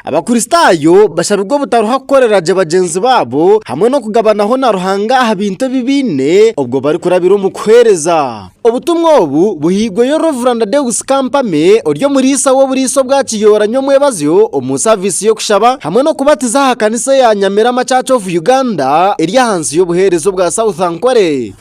Abakristaayo bashabirwe obutaruha kukorera gye bagyenzi baabo hamwe n'okugabanaho na Ruhanga aha bintu ebi baine obwo barikurabira omu kuheereza. Obutumwa obu buhairweyo Rev. Deus Kampame ori omuriisa w'oburiisa obwa Kiyoora Nyomwebazyo omu saaviisi y'okushaba hamwe n'okubatiza aha kanisa eya Nyamirama Church of Uganda eri ahansi y'obuheereza obwa South Ankole.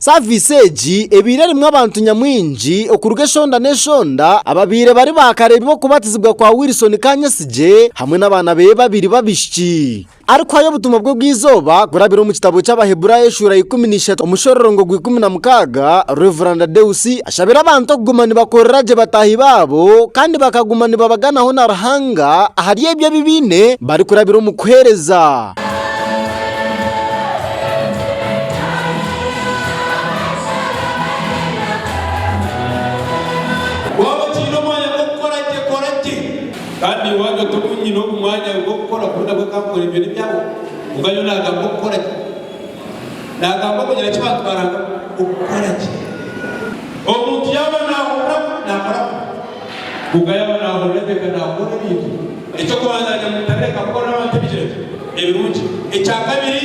Saaviisi egi ebaire erimu abantu nyamwingi okuruga eshonda n'eshonda ababaire bari baakareeba oku batizibwa kwa Wilson Kanyesigye hamwe n'abaana be babiri b'abaishiki. Arikuhayo obutumwa bwe bw'eizooba kurabira omu kitabo ky'Abaheburaayo eshuura ya ikumi na ishatu omushororongo gwa ikumi na mukaaga, Rev. Deus ashabira abantu okuguma nibakorera gye bataahi baabo kandi bakaguma nibabaganaho na Ruhanga ahari ebyo ebi baine barikurabira omu kuheereza. Kandi iwe wagyo tobu nyine ogu mwanya ogu okukora kuri nabwe kankore ebyo nebyawe kwonka nyowe nagamba okukora ki? Nagamba okugira ki bantu barangamu okukora ki? Omuntu yaba nahurira kubi nakora kubi kwonka yaba nahurira gye ka nakora ebintu. Ekyokubanza nyamutareka kukorera abantu ebigira gye ebirungi. Ekyakabiri.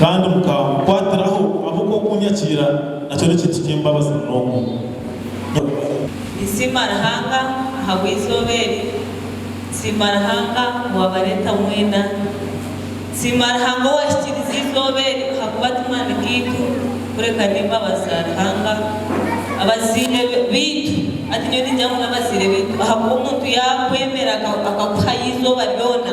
Kandi mukankwatiraho ahabw'okuba okunyakiira nakyo n'ekintu ky'embabazi munonga. Ninsiima Ruhanga ahabw'eizooba eri, nsiima Ruhanga owaabareeta mwena. Nsiima Ruhanga owaahikiriize eizooba eri ahakuba ti maani gaitu kureka n'embabazi za Ruhanga. Abazaire baitu, hati nyowe niingira ngu n'abazaire baitu ahakuba omuntu yaakwemera akakuhayo eizooba ryona,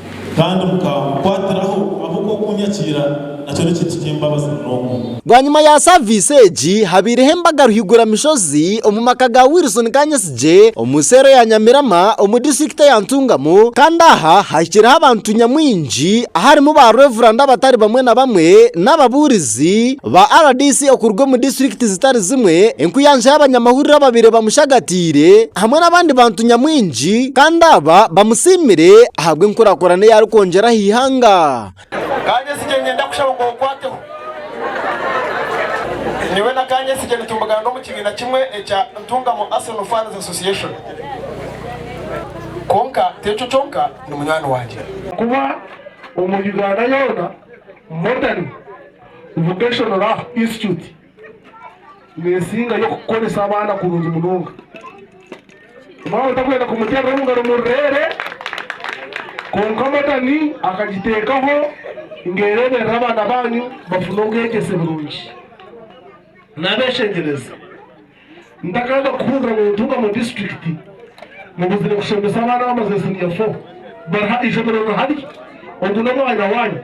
Kandi mukankwatiraho ahabw'okukunyakiira, nakyo ni kintu ky'embabazi munonga. Bwanyima ya saaviisi egi, habaireho embaga ruhiguramishozi omu maka ga Wilson Kanyesigye omu seero ya Nyamirama omu disiturikiti ya Ntungamo kandi aha hahikireho abantu nyamwingi aharimu ba Revuranda abatari bamwe na bamwe n'ababuurizi. Ababuurizi ba rdc okuruga omu disiturikiti zitari zimwe, enkuyanja y'abanyamahurire ababaire bamushagatiire hamwe n'abandi bantu nyamwingi kandi aba bamusiimire ahabw'enkurakurana ei arikwongyera aha ihanga. Kanyesigye niinyenda kushaba ngu onkwateho. Nyowe na Kanyesigye nitumugaana omu kibiina kimwe ekya Ntungamo Arsenal Fans Association. Kwonka ti ekyo kyonka, ni munywani wangye. Kuba omu Uganda yoona Modern Vocational Art Institute nesinga yo kukoresa abaana kurungi munonga. Omwana otakwenda kumuterera omungaro mururere kwonka Modern akagitekaho ngu ereberere abaana banyu bafune obwegyese burungi nabeshengyereza. Ntakaaga kuhurira nintuuka omu disiturikiti nibuzire kushomesa abaana bamaze siniya fo bari ha ishomero nihari. Ogu n'omwanya wanyu.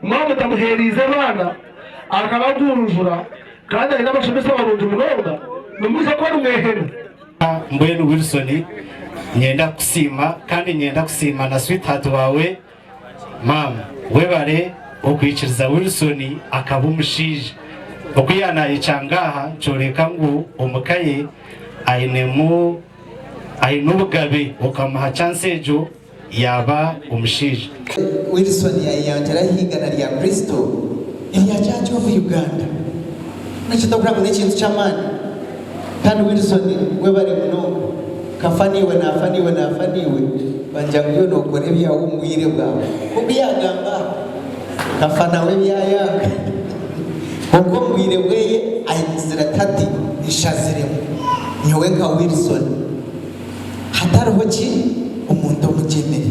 Maama otamuheereize abaana akabagunjura kandi aine abashomesa barungi munonga, nimwija kuba nimwehene. Mbwenu Wilson, niinyenda kukusiima kandi niinyenda kusiima na sweetheart waawe Maama, Webare okwikiriza Wilson akaba omushaija. Oku yaanayecanga aha nikyoreka ngu omu ka ye ainemu aine obugabe okamuha chansi egyo yaaba omushaija. Wilson yayeyanjura aha igana rya Kristo erya Church of Uganda. Nikyo tokura ngu n'ekintu ky'amaani? Can Wilson webare munonga kafa naiwe nafa naiwe nafa naiwe banja nguyo nokora ebyawe omu bwire bwawe nkoku yagamba aha kafa nawe ebyayanga kwonka omu bwire bweye ayimizire ati hati nshaziremu nyowe nka Wilson hatariho ki omuntu omugyemire.